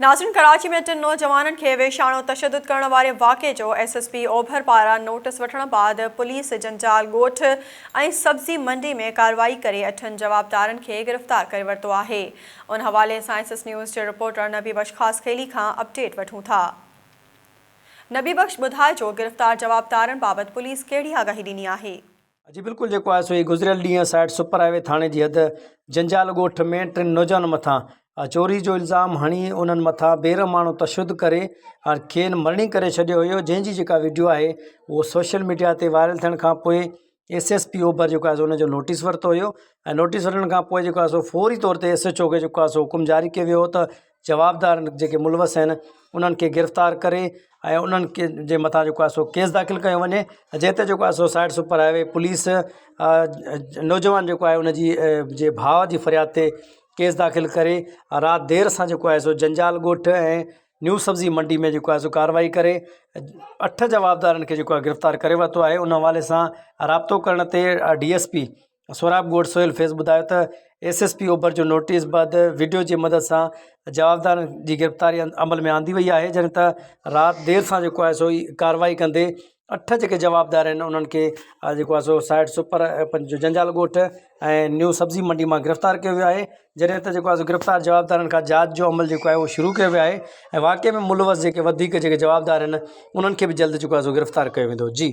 ناظرين ڪراچي ۾ ٽن نوجوانن کي ويشاڻو تشدد ڪرڻ واري واقعي جو ايس ايس پي اوڀر پاران نوٽس وٺڻ بعد پوليس جنجال ڳوٺ ۽ سبزي منڊي ۾ ڪارروائي ڪري اٺن جوابدارن کي گرفتار ڪري ورتو آهي ان حوالي سان ايس ايس نيوز جي رپورٽر نبي بخش خاصخيلي کان اپڊيٽ وٺون ٿا نبي بخش ٻڌائجو گرفتار جوابدارن بابت پوليس ڪهڙي آگاهي ڏني آهي. جي بلڪل جيڪو آهي سو گذريل ڏينهن سائٽ سپر هاء وي ٿاڻي جي حد جنجال ڳوٺ ۾ ٽن نوجوانن مٿان چوري جو الزام هڻي انهن مٿان بيرحمانو تشدد ڪري کين مرڻي ڪري ڇڏيو هيو جنهن جي جيڪا ويڊيو آهي اهو سوشل ميڊيا تي وائرل ٿيڻ کان پوء ايس ايس پي اوڀر جيڪو آهي سو ان جو نوٽيس ورتو هيو ۽ نوٽيس ورتڻ کان پوء جيڪو آهي سو فوري طور تي ايس ايچ او کي جيڪو آهي سو حڪم جاري ڪيو ويو هو ته جوابدار جيڪي ملوث آهن انهن کي گرفتار ڪري ۽ انهن کي جي مٿان جيڪو آهي ڪيس داخل ڪيو وڃي جنهن تي جيڪو آهي site super highway police نوجوان جيڪو آهي انجي جي ڀاء جي فرياد تي ڪيس داخل ڪري رات دير سان جيڪو آهي سو جنجال ڳوٺ ۽ نيو سبزي منڊي ۾ جيڪو آهي سو ڪاروائي ڪري اٺ جوابدارن کي جيڪو آهي گرفتار ڪري ورتو آهي ان حوالي سان رابطو ڪرڻ تي ڊي ايس پي سهراب ڳوٺ سهيل فيض ٻڌايو ته ايس ايس پي اوڀر جو نوٽيس بعد وڊيو جي مدد سان جوابدارن جي گرفتاري عمل ۾ آندي وئي آهي جڏهن ته رات دير سان جيڪو آهي سو ڪارروائي ڪندي اٺ جيڪي جوابدار آهن انهن کي جيڪو آهي سو سائٽ سپر پنجو جنجال ڳوٺ ۽ نيو سبزي منڊي مان گرفتار ڪيو ويو آهي جڏهن ته جيڪو آهي سو گرفتار جوابدارن کان جاچ جو عمل جيڪو آهي اهو شروع ڪيو ويو آهي ۽ واقعي ۾ ملوث جيڪي وڌيڪ جيڪي جوابدار آهن انهن کي به جلد جيڪو آهي سو گرفتار ڪيو ويندو جي